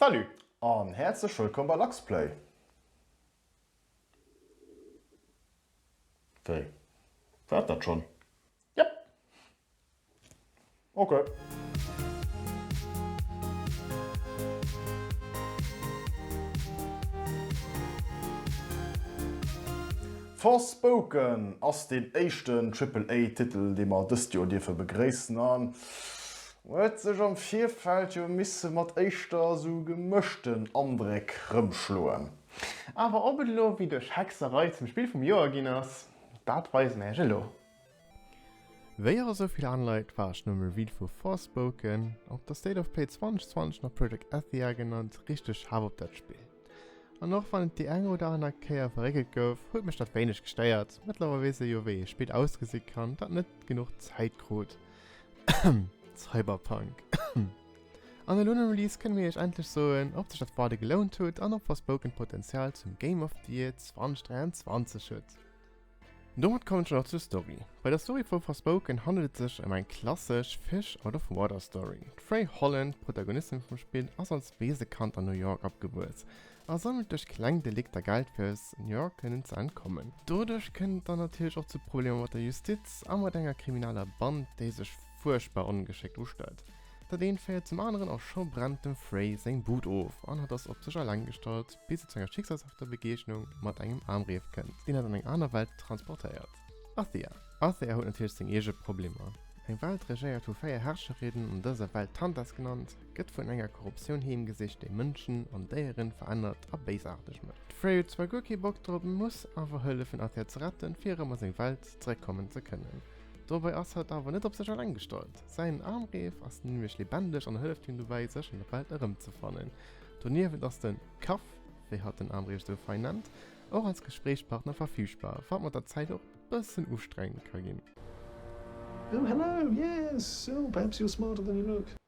Salut an häerzlech wëllkomm bei Luxplay! Wéi? War et dat schonn? Yep! Ok. Forspoken ass deen éischten Triple-A Titel dee mer dëst Joer dierfe begréissen an huet sech am Virfeld jo misse mat éischter esou gemëschten Andréck rëmschloen. Awer ob et elo wéi duerch Hexerei zum Spill vum Joer ginn ass, dat weise mir iech elo. Wéi och esou vill aner Leit war ech nëmme Reveal vu Forspoken, op der State of Play 2020 nach Project Athia genannt, richteg hype op dat Spill. An och wann et déi eng oder aner Kéier verréckelt gouf, huet mech dat wéineg gestéiert. Mëttlerweil weess ee jo wéi ee Spill ausgesi kann, dat net genuch Zäit krut. Cyberpunk. An elo nom Release kënne mir iech endlech soen, ob sech dat Waarde gelount huet an ob Forspoken d'Potenzial zum Game of the Year 2023 huet. Domat kommen scho nach zur Story. Bei der Story vu Forspoken handelt et sech ëm eng klassesch Fish Out of Water Story. D'Frey Holland, d'Protagonistin vum Spill, ass als Weesekand an New York opgewuess A sammelt duerch kleng Delikter Geld fir eis Senioren kënnen ze entkommen. Doduerch kënnt et dann natierlech och zu Problemer mat der Justiz a mat enger krimineller Band, déi sech fuerchtbar ongeschéckt ustellt. Dat eent féiert zum aneren a scho brennt dem Frey seng Bud of an hatt ass op sech alleng gestallt, bis et zu enger schicksalshafter Begegnung mat engem Aamreef kënnt, deen hatt an eng aner Welt transportéiert. Athia Athia huet natierlech seng eege Problemer. Eng Welt regéiert vu véier Herrscherinnen an dëser Welt, d'Tantas genannt. gëtt vun enger Korruptioun heemgesicht, déi Mënschen an Déieren verännert a béisaarteg mécht. De Frey huet zwar guer kee Bock drop, mee muss awer hëllefen Athia ze retten, fir erëm a seng Welt zeréckkommen ze kënnen. Dobäi ass hatt awer net op sech alleng gestallt. Säin Armreef ass nämlech lebendeg an hëlleft him dobäi, sech an der Welt erëmzefannen. Doniewent ass den Kaff, wéi hatt den Armreef esou fein nennt, och als Gespréichspartner verfügbar, wat mat der Zäit och bëssen ustrengend ka ginn. Oh hello, yes! So, perhaps you're smarter than you look.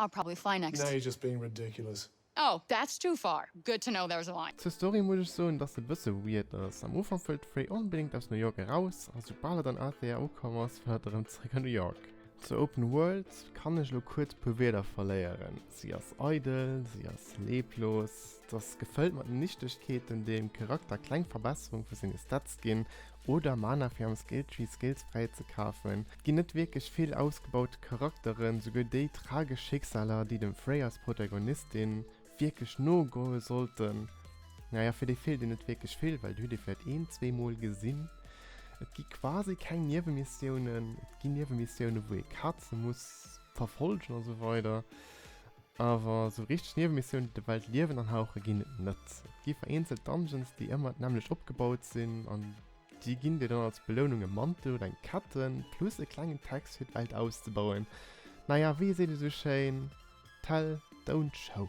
I'll probably fly next. Now you're just being ridiculous. Oh, that's too far. Good to know there's a line. Zur Story muss ech soen dass se bësse weird ass. Am Ufank wëll d'Rey onbedéngt aus New York eraus, a soubal et an Athia ukomm ass, wëll hatt erëm zeréck a New York. Zur Open World kann ech elo kuerz puer Wierder verléieren, si ass eidel, si ass leblos. Dass gefëllt mat Nichtegkeeten dem Charakter kleng Verbesserung vu senge Stats ginn oder Mana fir am Skilltree Skills fräi ze kafen. Et ginn net wierklech vill ausgebaute Charakteren, souguer déi tragesch Schicksaler déi dem Frey als Protagonistin wierklech no goe sollten, naja fir déi feelt een net wierklech vill, well dir hutt ee vläicht een, zwee mol gesinn. Et gi quasi keng Niewemissioune, et gi Niewemissioune wou ee Kaze muss verfolgen, a sou weider. Awer esou richteg Niewemissioun déi der Welt Liewen anhauche ginn et net. Et gi vereenzelt Dungeons déi ëmmer d'nämmlecht opgebaut sinn an déi ginn dir dann als Belounung e Mantel oder eng Ketten plus e klengen Text fir d'Welt auszebauen. Naja wéi seet et esou schéin, Tell, don't show.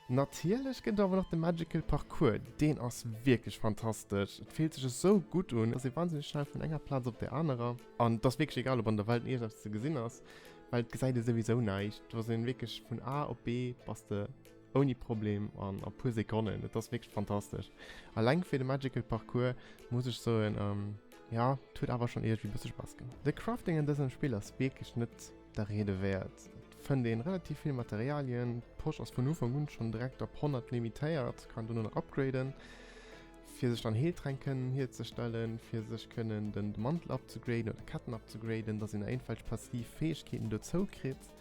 Natierlech gëtt et awer nach de Magical Parcours, deen ass wierklech fantastesch. Et fillt sech esou gutt un, et ass ee wahnsinneg schnell vun enger Plaz op där anerer an et ass wierklech egal ob an der Welt iergendeppes ze gesinn ass, Well et gesäit ee souwisou näischt, do ass een wierklech vun A op B bass de ouni Problem an a puer Sekonnen, et ass wierklech fantastesch. Alleng fir de Magical Parcours muss ech soen, jo et huet awer schonn iergendwéi e bësse Spass gemaach. De Crafting an dësem Spill ass wierklech net der Riede wäert. Et fënnt een relativ vill Materialien, d'Posch ass vun Ufank un schonn direkt op 100 limitéiert, kann dono nach upgraden. fir sech dann Heeltränk kënnen hierzestellen, fir sech kënnen den Mantel abzugraden oder Ketten abzugraden, dass een éinfällg passiv Fäegkeeten dozou kritt.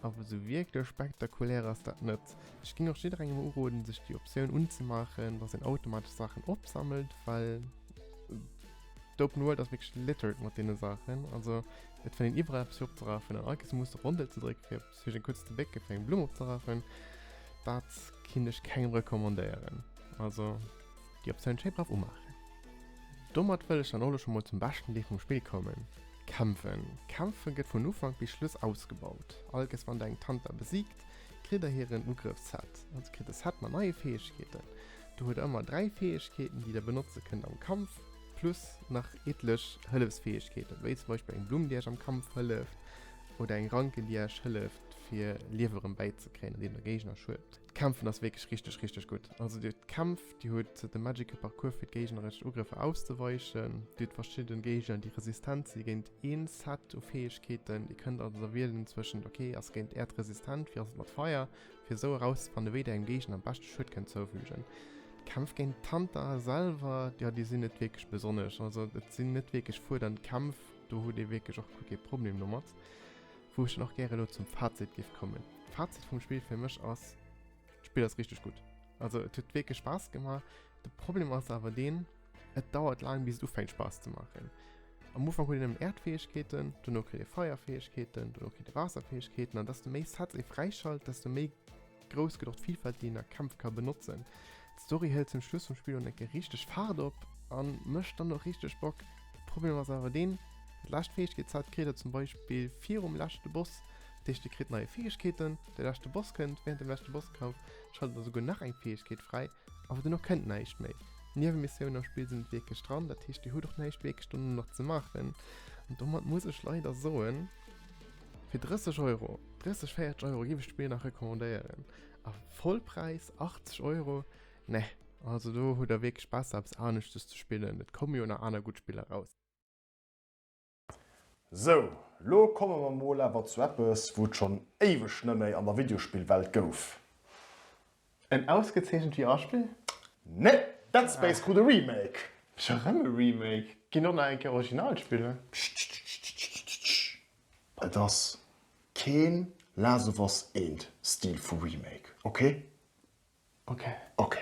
Awer esou wierklech spektakulär ass dat net. Ech géing och jidderengem uroden, sech déi Optioun unzemaachen, dass een automatesch Saachen opsammelt, well d'Open World ass wierklech littered mat deene Saachen. Also et fënnt een iwwerall eppes fir opzerafen an all kee muss de Rondel ze drécken, fir Fir den kurz de Bécke fir eng Blumm opzerachen, dat kinn ech kengem recommandéieren. Also déi Optioun schéi brav umaachen. Domat wëll ech dann och elo scho mol zum beschten Deel vum Spill kommen, Kämpfen. Kämpfe gëtt vun Ufank bis Schluss ausgebaut. All gess wann der eng Tanta besiegt, kritt der hiren Ugrëffsset. Also kritt e Set mat neie Fäegkeeten. Do huet der ëmmer 3 Fäegkeeten, déi der benotze kënnt am Kampf, plus nach eetlech Hëllefsfäegkeeten, wéi zum Beispill eng Blumm, déi iech am Kampf hëlleft, Oder eng Ranken déi Äech hëlleft fir Liew erëm bäi ze kréien an deem der Géigner schued. D'Kämpfen ass wierklech richteg richteg gutt. Also dir hutt d'Kämpf, dir hutt de Magical Parcours fir d'géigneresch Ugrëffer auszeweichen, dir hutt verschidden Géigner déi resistent si géint een Set u Fäegkeeten, dir kënnt also wielen zwëschent ok ass géint Äerd resistent, wéi ass et mat Feier, fir esou erauszefannen wéi der engem Géigner am beschte Schued kënnt zoufügen. D'Kämpf géint d'Hunter selwer, jo déi sinn net wierklech besonnesch, also et sinn net wierklech fuerdend Kämpf. Do huet ee wierklech och guer kee Problem domat. Wou ech dann och gäre elo zum Fazit géif kommen. D'Fazit vum Spill fir mech ass, D'Spill ass richteg gutt. Also et huet wierklech Spaass gemaach. De Problem ass awer deen, et dauert laang bis et ufänkt Spaass ze maachen. Am Ufank huet een nëmmen Äerdfäegkeeten, duerno kritt ee Feierfäegkeeten, duerno kritt ee Waasserfäegkeeten an desto méi Sets ee fräischalt, desto méi Grouss gëtt och d'Vilfalt, déi een a Kämpf ka benotzen. D'Story hëlt zum Schluss vum Spill dann eng Kéier richteg Faart op a mécht dann och richteg Bock. De Problem ass awer deen, Déi lescht Fäegkeetszäit kritt der zum Beispill virum leschte Boss. Dat heescht, dir kritt neie Fäegkeeten, de leschte Boss kënnt, wärend dem leschte Bosskampf schaltet der souguer nach eng Fäegkeet fräi, awer duerno kënnt näischt méi. D'Niewemissioune am Spill sinn net wierklech dran, dat heescht dir hutt och näischt wierklech dono nach ze maachen an domat muss ech leider soen, Fir 30 Euro, 30, 40 Euro géif ech d'Spill nach recommandéieren. A Vollpräis 80 Euro? Nee, also do hutt der wierklech besser eppes aneschtes ze spillen, et komme jo nach aner gutt Spiller raus. Sou, lo komme mer mol awer zu eppes, wou et schonn éiweg neméi an der Videospillwelt gouf. En ausgezeechent VR-Spill? Nee, Dead Space krut e Remake. Scho rem e Remake? Ginn och nach eng Kéier original spillen? Tschitschitschitschitsch. Et ass keen Last of Us 1 Stil vu Remake, okay? Okay. Okay.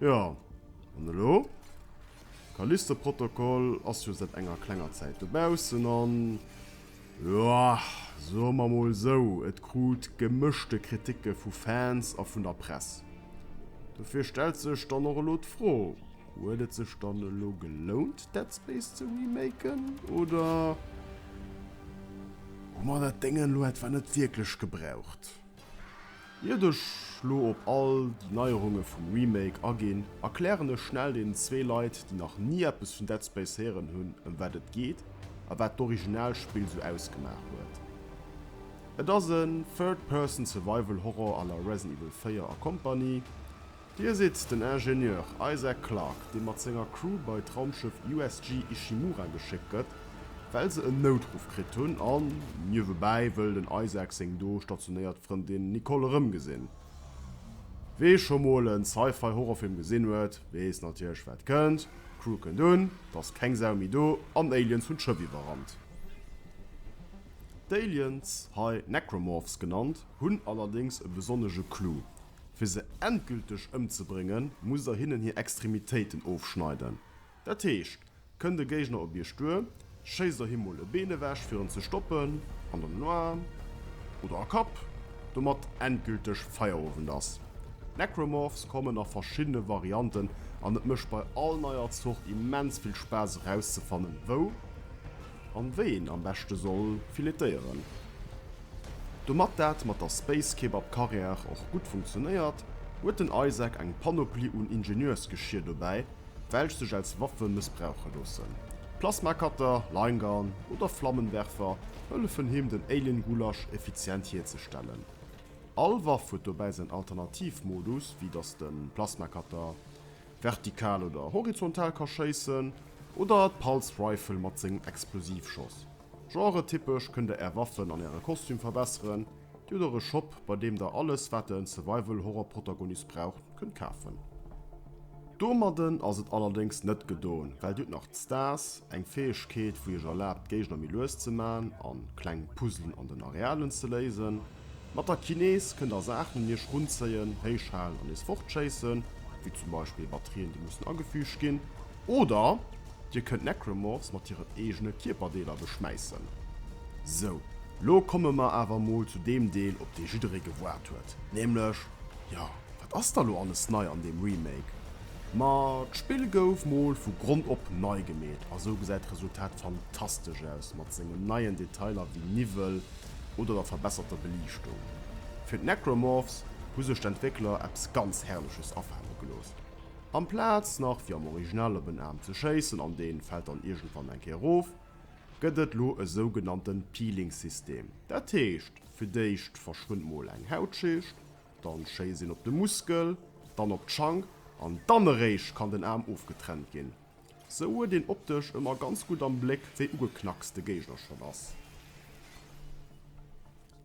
Jo, an elo? Callisto-Protokoll ass jo säit enger klenger Zäit dobaussen an, jo, soe mer mol sou, et krut gemëschte Kriticke vu Fans a vun der Press. Dofir stellt sech dann och elo d'Fro, Huet et sech dann elo gelount, Dead Space ze remaken? Oder hu mer dat Déngen elo etwa net wierklech gebraucht? Iert ech lo op all déi Neierunge vum Remake aginn, erklären ech schnell deenen zwee Leit, déi nach ni eppes vun Dead Space héieren hunn, ëm wat et geet a wat d'Originalspill sou ausgemaach huet. Et ass en Third-Person-Survival-Horror à la Resident Evil 4 a Company. Dir sidd den Ingenieur Isaac Clarke, dee mat senger Crew bei d'Raumschëff USG Ishimura geschéckt gëtt, well se en Noutruff kritt hunn, an niewebäi wëll den Isaac seng do stationéiert Frëndin Nicole erëmgesinn. Wee scho mol en Sci-Fi Horrorfilm gesinn huet, weess natierlech wat kënnt, d'Crew kënnt un, et ass keng Sau méi do, an Aliens hunn d'Schëff iwwerrannt. D'Aliens, hei Necromorphs genannt, hunn allerdéngs e besonnege Clou, Fir se endgülteg ëmzebréngen, musst der hinnen hir Extremitéiten ofschneiden. Dat heescht, kënnt e Géigner op iech duer, schéisst der him mol e Been ewech, fir en ze stoppen, an dann en Aarm oder a Kapp, domat endgülteg Feierowend ass. D'Necromorphs kommen a verschiddene Varianten, an et mécht bei all neier Zort immens vill Spaass erauszefannen, wou. an wéi een am beschte soll filetéieren. Domat dat mat der Space Kebab Carrière och gutt funktionéiert, huet den Isaac eng Panoplie un Ingenieursgeschier dobäi, welch sech als Waffe mëssbrauche loossen. Plasma Cutter, Line Gun oder Flammenwerfer hëllefen him den Alien Gulasch effizient hierzestellen. All Waff huet dobäi säin Alternativ Modus, wéi dass de Plasma Cutter vertikal oder horizontal ka schéissen, oder d'Pulse Rifle mat sengem Explosivschoss. Genretypesch kënnt der är Waffen an äre Kostüm verbesseren, dir huet och e Shop bei deem der alles wat der en Survival Horror Protagonist braucht kënnt kafen. Domadden ass et allerdéngs net gedoen, well dir hutt nach d'Stars, eng Fäegkeet wou iech erlaabt d'Géigner méi lues ze man an kleng Puzzelen an den Arealen ze léisen. Mat der Kinese kënnt der Saach den Iech runzéien, héich halen an nees fortschéissen, wéi zum Beispill Batterien déi mussen agefüügt ginn, oder Dir kënnt Necromorphs mat hiren eegene Kierperdeeler beschmäissen. Sou, lo komme mer awer mol zu deem Deel op dee jidderee gewaart huet, nämlech, jo, wat ass da lo alles nei an deem Remake? Ma d'Spill gouf mol vu Grond op nei gemeet a sou gesäit d'Resultat fantastesch aus, mat sengen neien Detailer wéi Niwwel, oder der verbesserter Beliichtung. Fir d'Necromorphs hu sech d'Entwéckler eppes ganz Herrleches afaale gelooss. Amplaz nach wéi am Original op en Aarm ze schéissen an deen fält dann iergendwann eng Kéier erof, gëtt et lo e sougenannte Peeling-System. Dat heescht, fir d'éischt verschwënnt mol eng Hautschicht, dann schéisst een op de Muskel, dann op d'Schank an dann eréischt kann den Aarm ofgetrennt ginn. Sou huet een optesch ëmmer ganz gutt am Bléck wéi ugeknackst de Géigner schonn ass.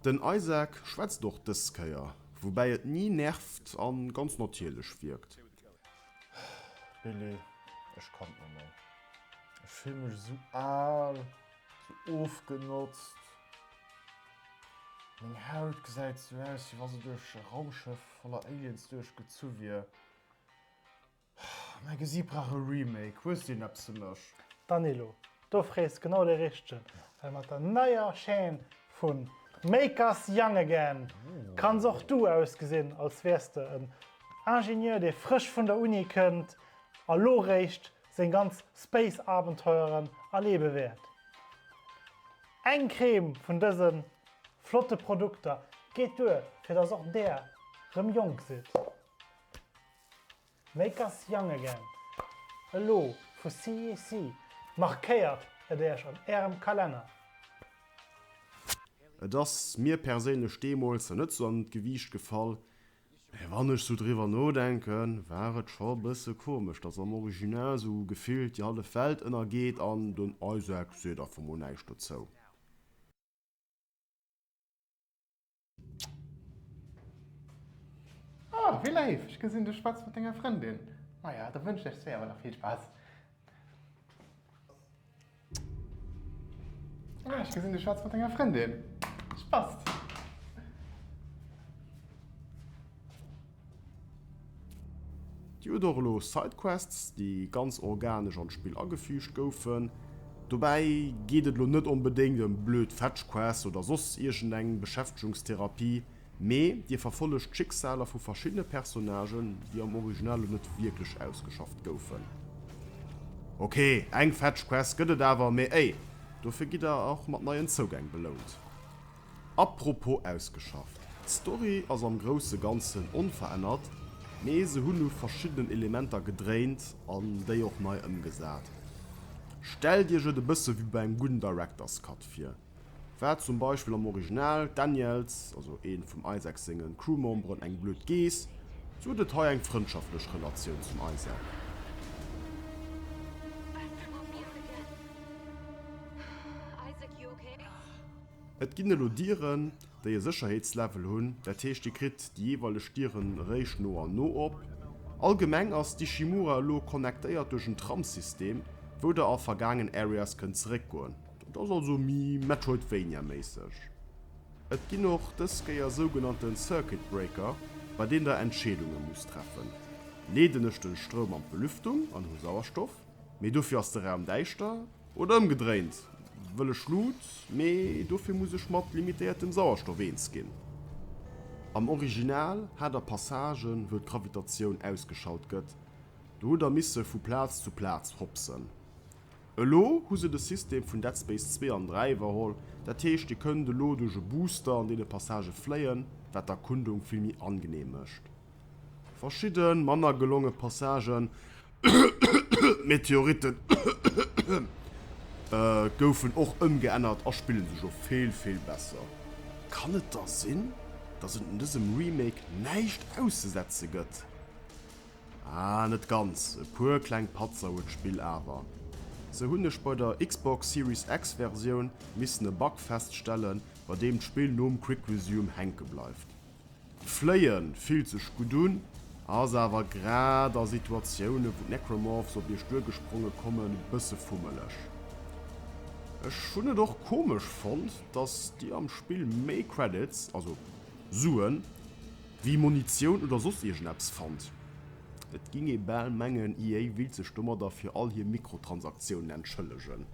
Den Isaac schwätzt och dës Kéier, woubäi et ni nervt a ganz natierlech wierkt. Billy, ech kann et net méi. Ech fille mech esou al, esou ofgenotzt. Meng Haut gesäit esou aus, wéi wa se duerch e Raumschëff voller Aliens duerchgezu wier. Mäi Gesiit brauch e Remake, hues du een eppes fir mech? Danilo, do frees genau de richtegen, well mat der neier Chaîne vun Make Us Young Again kanns och du ausgesinn als wäers de en Ingenieur dee frësch vun der Uni kënnt a lo réischt seng ganz Space Abenteueren erlebe wäert. Eng Crème vun dëse flotte Produkter geet duer fir dass och där rëm jonk sidd. Make us young again. Elo vu CEC. Markéiert et Äech an Ärem Kalenner. Et ass mir perséinlech deemools net sou an d'Gewiicht gefall, mä wann ech sou driwwer nodenken, war et scho e bësse komesch, dass am Original sou gefillt déi hallef Welt ënnergeet an den Isaac seet einfach mol näischt dozou. Oh, wéi léif! Ech gesinn, du schwätz mat denger Frëndin. Maja, da wënschen ech zwee awer nach vill Spaass. Ah, ech gesinn, du schwätz mat denger Frëndin. Spasst! Dir hutt och elo Sidequests, déi ganz organesch an d'Spill agefüügt goufen. Dobäi geet et elo net onbedéngt ëm blöd Fetchquests oder soss iergendeng Beschäftegungstherapie, mee Dir verfollegt d'Schicksaler vu verschiddene Personnagen, déi am Original elo net wierklech ausgeschafft goufen. Ok, eng Fetchquest gëtt et awer, mee ey, dofir gitt Der och mat neien Zougäng belount. Apropos ausgeschafft, d'Story ass am grousse Ganzen onverännert, mee se hunn u verschiddenen Elementer gedréint an déi och nei ëmgesat. Stellt iech et e bësse wéi bei engem gudden Director's Cut vir, war zum Beispill am Original d'Daniels, also ee vum Isaac senge Crewmemberen, eng blöd Geess, sou huet et hei eng frëndschaftlech Relatioun zum Isaac. Et ginn elo Dieren, déi e Sécherheetslevel hunn, dat heescht Dir kritt déi jeeweileg Dieren eréischt no an no op. Allgemeng ass d'Ishimura elo connectéiert duerch en Tramsystem, wou Der a vergaangen Areas kënnt zeréckgoen. Dat ass also méi Metroidvania-méisseg. Et ginn och dës Kéier sougenannte Circuit Breaker, bei deenen Der Entscheedunge musst treffen, Leeden ech den Stroum an d'Belüftung an hu Sauerstoff, mee dofir ass de Raum däischter? Oder ëmgedréint, wëll ech Luut, mee dofir muss ech mat limitéiertem Sauerstoff eens ginn. Am Original hat der Passagen, wou d'Gravitatioun ausgeschalt gëtt, do hutt der misse vu Plaz zu Plaz hopsen. Elo hu se de System vun Dead Space 2 an 3 iwwerholl, dat heescht dir kënnt elo duerch e Booster an deene Passage fléien, wat d'Erkundung vill méi angeneem mécht. Verschidde manner gelonge Passagen, Meteoritten, goufen och ëmgeännert a spillen sech och vill, vill besser. Kann et da sinn, dass et un dësem Remake näischt auszesetze gëtt? Ah, net ganz, e puer kleng Patzer huet d'Spill awer. Sou hunn ech bei der Xbox Series X Versioun missen e Bug feststellen, bei deem d'Spill nom Quick Resume hänke bleift. Fléien fillt sech gutt un, ass awer grad a Situatiounen wou d'Necromorphs op iech duergespronge kommen e bësse fummeleg. Ech hunn et och komesch fonnt dass dir am Spill méi Credits, also Suen, wéi Munitioun oder soss iergendeppes fannt. Et ging ee bal mengen EA willt sech domadder fir all hir Mikrotransaktiounen entschëllegen.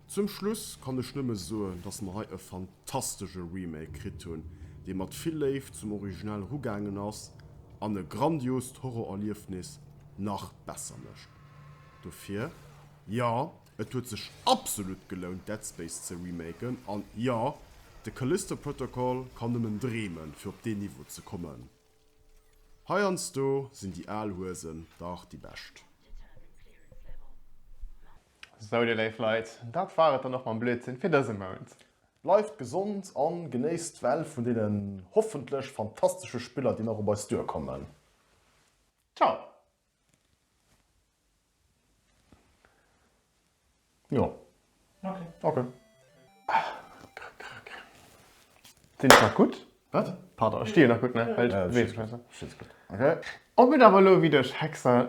Zum Schluss kann ech nëmme soen, dass mer hei e fantastesche Remake kritt hunn, dee mat vill Léift zum Original erugaangen ass an e grandiost Horrorerliefnis nach besser mécht. Dofir, jo, et huet sech absolut gelount, Dead Space ze remaken, an jo, de Callisto Protocol kann nëmmen dreemen, fir op deen Niveau ze kommen. Heiansdo sinn déi al Huesen dach déi bescht. Sou dir léif Leit, dat war et dann och mam Blödsinn fir dëse Mount. Bleift gesond an genéisst d'Well vun deenen hoffentlech fantastesche Spiller déi nach op eis duer kommen. Ciao! Jo. Ok. Ok. Sinn ech nach gutt? Wat? Pardon, ech stinn jo nach gutt, ne? Well ech beweege mech net esou. Stinn se gutt. Ok. Ob et awer elo ewéi duerch Hexer.